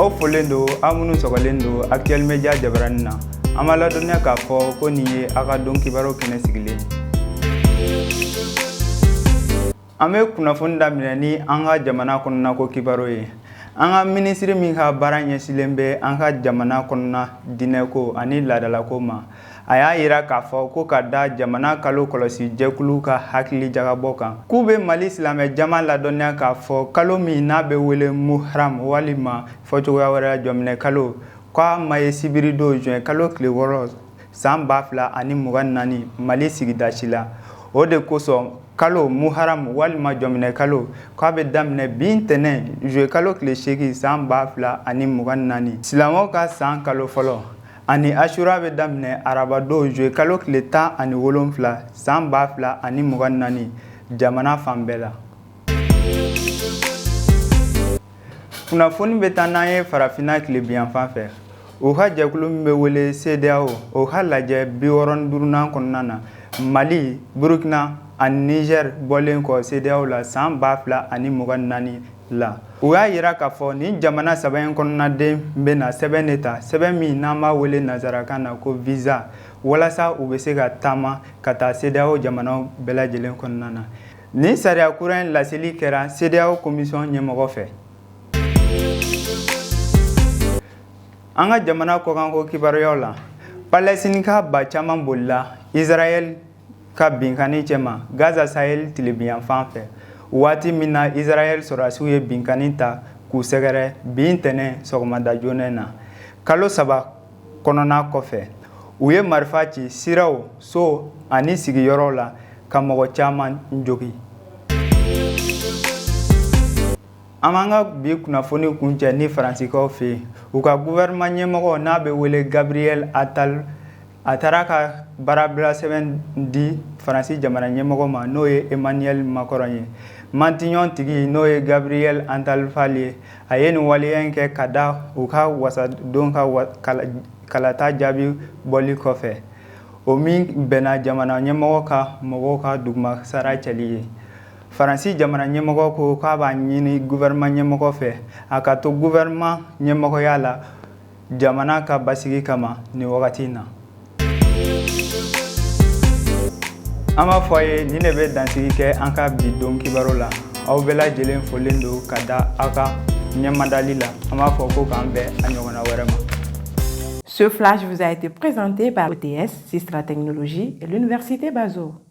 aw folen don aw minnu sɔgɔlen don actuel media jabarani na an b'a ladɔnniya k'a fɔ ko nin ye aw ka don kibaru kɛnɛ sigilen an bɛ kunnafoni daminɛ ni an ka jamana kɔnɔna ko kibaru ye an ka minisiri min ka baara ɲɛsinlen bɛ an ka jamana kɔnɔna diinɛko ani laadalako ma a y'a jira k'a fɔ ko ka da jamana kalo kɔlɔsi jɛkulu ka hakili jagabɔ kan k'u bɛ mali silamɛ jama ladɔnniya k'a fɔ kalo min n'a bɛ wele muharam walima fɔcogoya wɛrɛ jɔminɛ kalo k'a ma ye sibiridon juillet kalo tile wɔɔrɔ san ba fila ani mugan naani mali sigida si la o de kosɔn kalo muharam walima jɔminɛ kalo k'a bɛ daminɛ bi ntɛnɛn juillet kalo tile seegin san ba fila ani mugan naani silamɛw ka san kalo fɔlɔ Ani asura bɛ daminɛ arabadon juillet kalo tile tan ani wolonfila san ba fila ani mugan naani jamana fan bɛɛ la kunnafoni bɛ taa n'an ye farafinna tilebinyanfan fɛ u ka jɛkulu min bɛ wele CEDEAO o ka lajɛ bi wɔɔrɔ ni duurunan kɔnɔna na mali burukina ani nizɛri bɔlen kɔ CEDEAO la san ba fila ani mugan naani la u y'a jira k'a fɔ nin jamana saba in kɔnɔnaden bɛna sɛbɛn de ta sɛbɛn min n'an b'a wele nansarakan na ko viza walasa u bɛ se ka taama ka taa CEDEAO jamanaw bɛɛ lajɛlen kɔnɔna na nin sariya kura in laseli kɛra CEDEAO komisɔn ɲɛmɔgɔ fɛ an ka jamana kɔkanko kibaruyaw la palɛsitinika ba caman bolila israɛl ka binkanni cɛma Gaza saheli tilebinyanfan fɛ, waati min na Israɛl sɔrɔdasiw ye binkanni ta k'u sɛgɛrɛ bi ntɛnɛn sɔgɔmada joona in na, kalo saba kɔnɔna kɔfɛ, u ye marifa ci siraw, so ani sigiyɔrɔw la ka mɔgɔ caman jogin. An b'an ka bi kunnafoni kuncɛ ni Faransikaw fɛ yen, u ka gouvernement ɲɛmɔgɔ n'a bɛ wele Gabriel Attal a taara ka baarabilasɛbɛn di faransi jamana ɲɛmɔgɔ ma n'o ye emmanuel macron ye matignon tigi n'o ye gabriel attal ye a ye nin waleya in kɛ ka da u ka wasaden ka kalata jaabi bɔli kɔfɛ o min bɛnna jamana ɲɛmɔgɔ ka mɔgɔw ka dugumasara cɛli ye faransi jamana ɲɛmɔgɔ ko k'a b'a ɲini guvɛrɛnman ɲɛmɔgɔ fɛ a ka to guvɛrɛnman ɲɛmɔgɔya la jamana ka basigi kama nin wagati in na an b'a fɔ a ye nin de bɛ dansigi kɛ an ka bi don kibaru la aw bɛɛ lajɛlen folen don ka da aw ka ɲɛmadali la an b'a fɔ ko k'an bɛn a ɲɔgɔnna wɛrɛ ma Ce flash vous a été présenté par ETS, Sistra Technologie et l'Université Bazo.